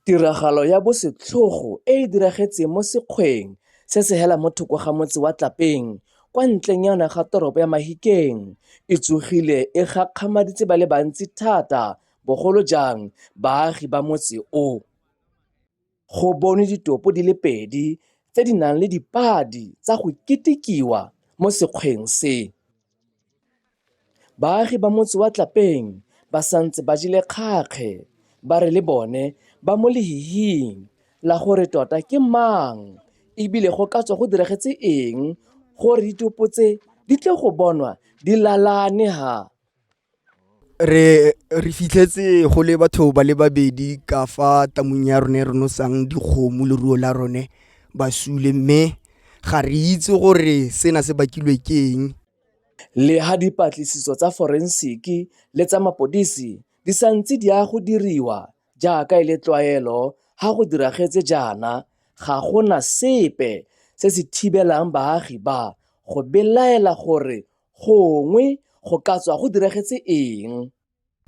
Tiragalo ya bosetlhogo e e diragetseng mo sekgweng se se hela mo thoko ga motse wa Tlapeng kwa ntlenyana ga toropo ya Mahikeng e tsogile e gakgamaditse ba le bantsi thata bogolo jang baagi ba motse o. Go bonwe ditopo di le pedi tse di nang le dipadi tsa go ketekiwa mo sekgweng se. Baagi ba motse wa Tlapeng ba santse ba jele kgakge ba re le bone ba mo lehihing la gore tota ke mang e bile go ka tswa go diragetse eng gore ditopo tse di tle go bonwa di lalane ha re re fitlhetse go le batho ba le babedi ka fa tamong ya rone re nosang dikgomo le ruo la rone ba sule mme ga re itse gore sena se bakilwe ke eng le ha dipatlisiso tsa forensiki le tsa mapodisi di sa ntse di ya go diriwa jaaka e le tlwaelo ha go diragetse jaana ga go na sepe se se thibelang baagi ba go belaela gore Gongwe go ka tswa go diragetse eng?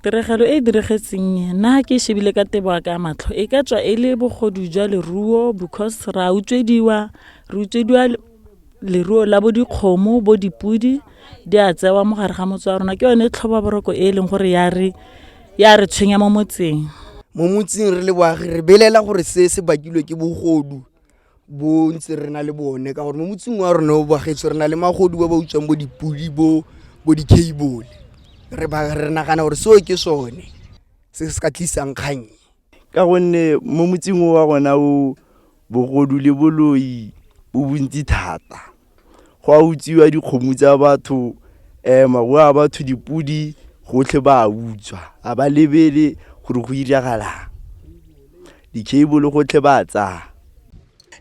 Tiragalo e e diragetseng e, nna ke e shebile ka tebo ya ka ya matlho e ka tswa e le bogodu jwa leruo because ra utswediwa re utswediwa le- leruo la bo dikgomo bo dipodi di a tsewa mo gare ga motse wa rona ke yone tlhoba boroko e e leng gore ya re ya re tshwenya mo motseng mo motseng re le boagi re belela gore se se bakilwe ke bogodu bontse re na le bone ka gore mo motseng wa rona o bagetswe re na le magodu ba ba utswang bo dipodi bo bo di-cable re ba re nagana gore seo ke sone se se ka tlisang kgang ka gonne mo motseng wa rona o bogodu le boloi bo bontsi thata go a utswiwa dikgomo tsa batho um maruo a batho dipodi gotlhe ba a utswa a ba lebele gore go iragalang di-cable gotlhe ba tsaya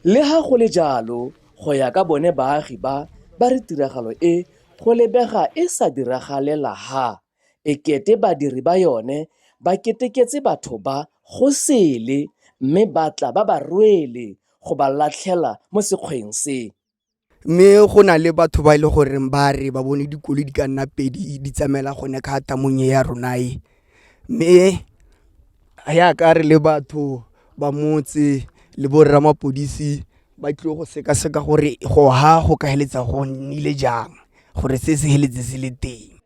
le ga go le jalo go ya ka bone baagi ba ba re tiragalo e go lebega e sa diragalela ha e kete badiri ba yone ba keteketse batho ba go sele mme ba tla ba ba rwele go ba latlhela mo sekgweng se. mme go na le batho ba e le gore ba re ba bone dikoloi di ka nna pedi di tsamaela gone ka tamong e ya rona e mme yaka re le batho ba motse le borra mapodisi ba tlile go sekaseka gore go ha go ka heletsa go nnile jang gore se se heletse se le teng.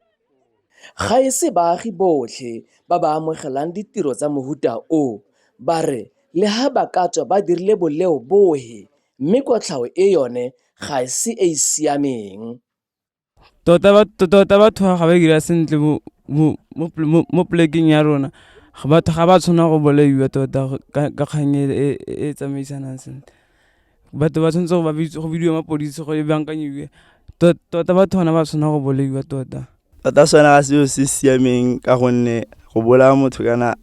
Ga e se baagi botlhe ba ba amogelang ditiro tsa mohuta o, ba re le ha ba ka tswa ba dirile boleo bohe mme kotlhao e yone ga e se e e siameng. Tota batho ga ba dira sentle mo polekeng ya rona batho ga ba tshwanela go bolaiwa tota ka kgang e e tsamaisanang sentle. Batho ba tshwanetse go ba go bidiwe mapodisi go e bankanyiwe. Tota batho gona ba tshwanela go bolaiwa tota. Tota sone ga seo se siameng ka gonne go bolaya motho kana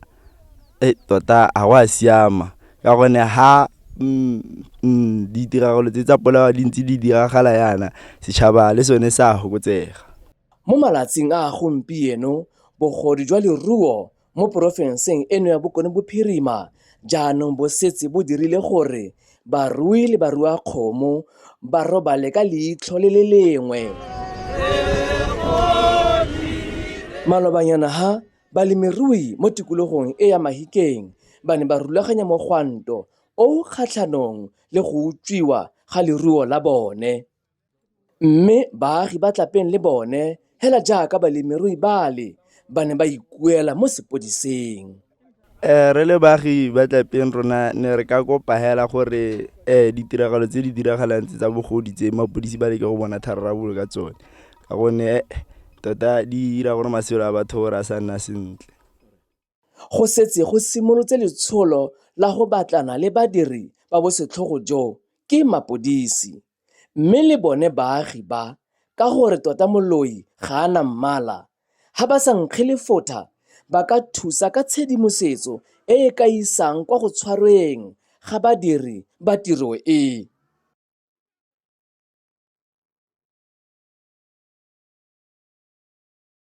e tota ga go a siama ka gonne ha mm, mm, ditiragalo tse tsa polao di ntse di diragala yana setšhaba le sone sa fokotsega. Mo malatsing a gompieno bogodu jwa leruo mo porofenseng eno ya Bokone Bophirima jaanong bo setse bo dirile gore barui le baruakgomo ba robale ka leitlho le le lengwe. Malobanyana ha balemirui mo tikologong e ya Mahikeng ba ne ba rulaganya mogwanto o o kgatlhanong le go utswiwa ga leruo la bone. Mme baagi ba Tlapeng le bone hela jaaka balemirui bale ba ne ba ikuela mo sepodising. Eh, re le baagi ba tlapeng rona ne re ka kopa hela gore eh ditiragalo tse di diragalang tse tsa bogodi tse mapodisi ba leke go bona thararabolo ka tsone ka gonne eh, tota di dira gore matshelo a batho gore a sa nna sentle. go setse go simolotse letsholo la go batlana le badiri ba bosetlhogo jo ke mapodisi mme le bone baagi ba ka gore tota moloi ga a na mmala ga ba sa nkge lefotha ba ka thusa ka tshedimosetso e e ka isang kwa go tshwarweng ga badiri ba tiro e.